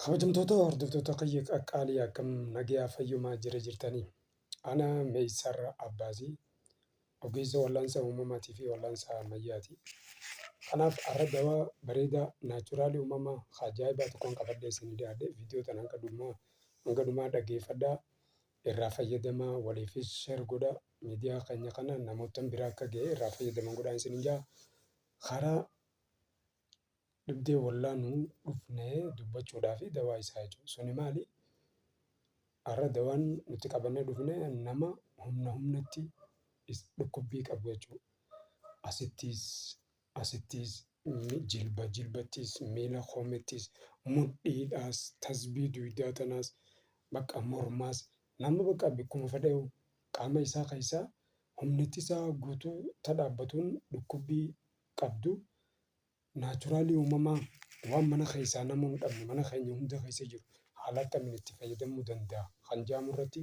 Kabajamtoota hordoftoota kiyya qaqqaalii akkam nagayaa fayyumaa jira jirtanii. Ana Meeysarra Abbaazii ogeessa wallaansa uumamaatii fi wallaansa ammayyaati. Kanaaf har'a dawaa bareedaa naachuraalii uumamaa ka ajaa'ibaa tokkoon qabadhee isinii dhiyaadhe viidiyoo tana hanga dhumaa hanga dhumaa dhaggeeffadhaa irraa fayyadamaa waliifis share godhaa miidiyaa keenya kana namoottan biraa akka ga'ee irraa fayyadaman godhaa isiniin ja'a. Karaa Dhibdee wallaanuu dhufnee dubbachuudhaafi dawaa isaa jechuudha. Suni maali? Har'a dawaan nuti qabannee dhufne nama humna humnatti dhukkubbii qabu jechuudha. Asittis, asittis, jilba jilbattis, miila koomeettis, mudhiidhaas, tasbii duydaa tanaas, bakka mormaas, nama bakka bakkuma fedheyyuu qaama isaa keessaa humni ittisaa guutuu ta dhaabbatuun dhukkubbii qabdu naachuraalii uumamaa waan mana keessaa nama hin dhabne mana keenya hunda keessa jiru haala akkamiin itti fayyadamuu danda'a kan jedhamu irratti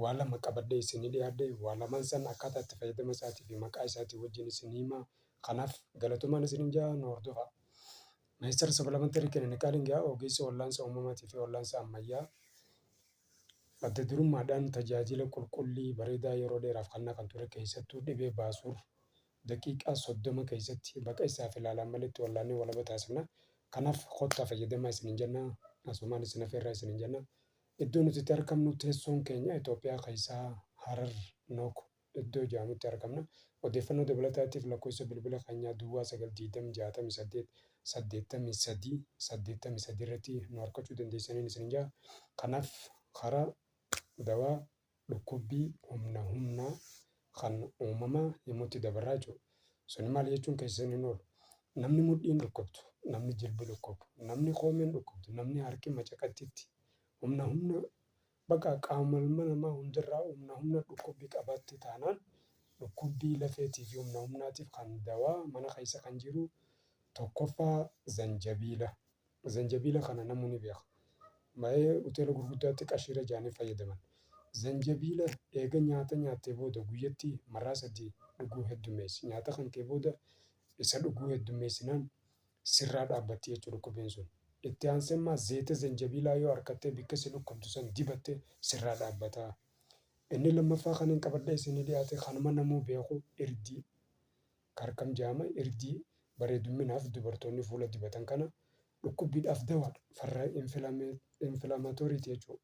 waa lama qabadhee isinii dhiyaadhe waa lamaan san akkaataa itti fayyadama isaatii fi maqaa isaatii wajjin isin himaa kanaaf galatomaan isin hin jaa nu hordofaa. Ministeera Sabalamantarii Kilinikaalii Ingiyaa ogeessa wallaansa uumamaatii fi wallaansa ammayyaa adda durummaadhaan tajaajila qulqullii bareedaa yeroo dheeraaf kannaa kan ture keessattuu dhibee baasuur Daqiiqaa 30 keessatti baqa isaaf ilaalaan maletti wallaannee walaba taasifna. Kanaaf kottaa fayyadamaa isiniin jenna. Asumaan isin afeerraa isiniin jenna. Iddoo nuti itti argamnu teessoon keenya Itoophiyaa keessaa Harar Nook iddoo jedhamutti argamna. Odeeffannoo dabalataatiif lakkoofsa bilbila keenyaa Duwwaa 9 20 68 83 83 irratti nu argachuu dandeessaniin isiniin jedha. Kanaaf karaa dawaa dhukkubbii humna humnaa kan uumamaa himutti dabarraa jiru. Suni maal jechuun keessan hin oolu. Namni mudhiin dhukkubtu, namni jilbi dhukkubu, namni koomeen dhukkubtu, namni harki macaqattitti humna humna baqa qaama ilma namaa hundarraa humna humna dhukkubbii qabaatte taanaan dhukkubbii lafeetii fi humna humnaatiif kan dawaa mana keessa kan jiru tokkoffaa zanjabiila. Zanjabiila kana namuu ni beeka. Baay'ee hoteela gurguddaatti qashiira jedhanii fayyadaman. Zanjabiila eega nyaata nyaattee booda guyyatti marraa sadii dhuguu heddummeessi. Nyaata kankee booda isa dhuguu heddummeessinaan sirraa dhaabbatti jechu dhukkubiin sun. Itti aansee immaa zeeyta zanjabiilaa yoo arkattee bikka si dhukkubdu san dibatte sirraa dhaabbata. Inni lammaffaa kanin qabadhee isinii dhiyaate kanuma namuu beeku irdii. Karkam jaama irdii bareedumminaaf dubartoonni fuula dibatan kana dhukkubbiidhaaf dawaadha farra inflammatory ti jechuu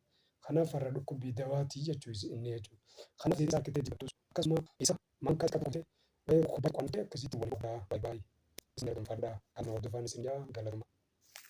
kanaaf farra dhukkubbii dawaa ti jechuu is inni jechuu kanaaf deebisaa arkittee dibattus akkasuma isa maan kas qabuute waa'ee dhukkubbaatti qo'annee akkasitti wal qabdaa bye bye isin arganfadhaa haaluma hordofaan isin ja'a galatomaa.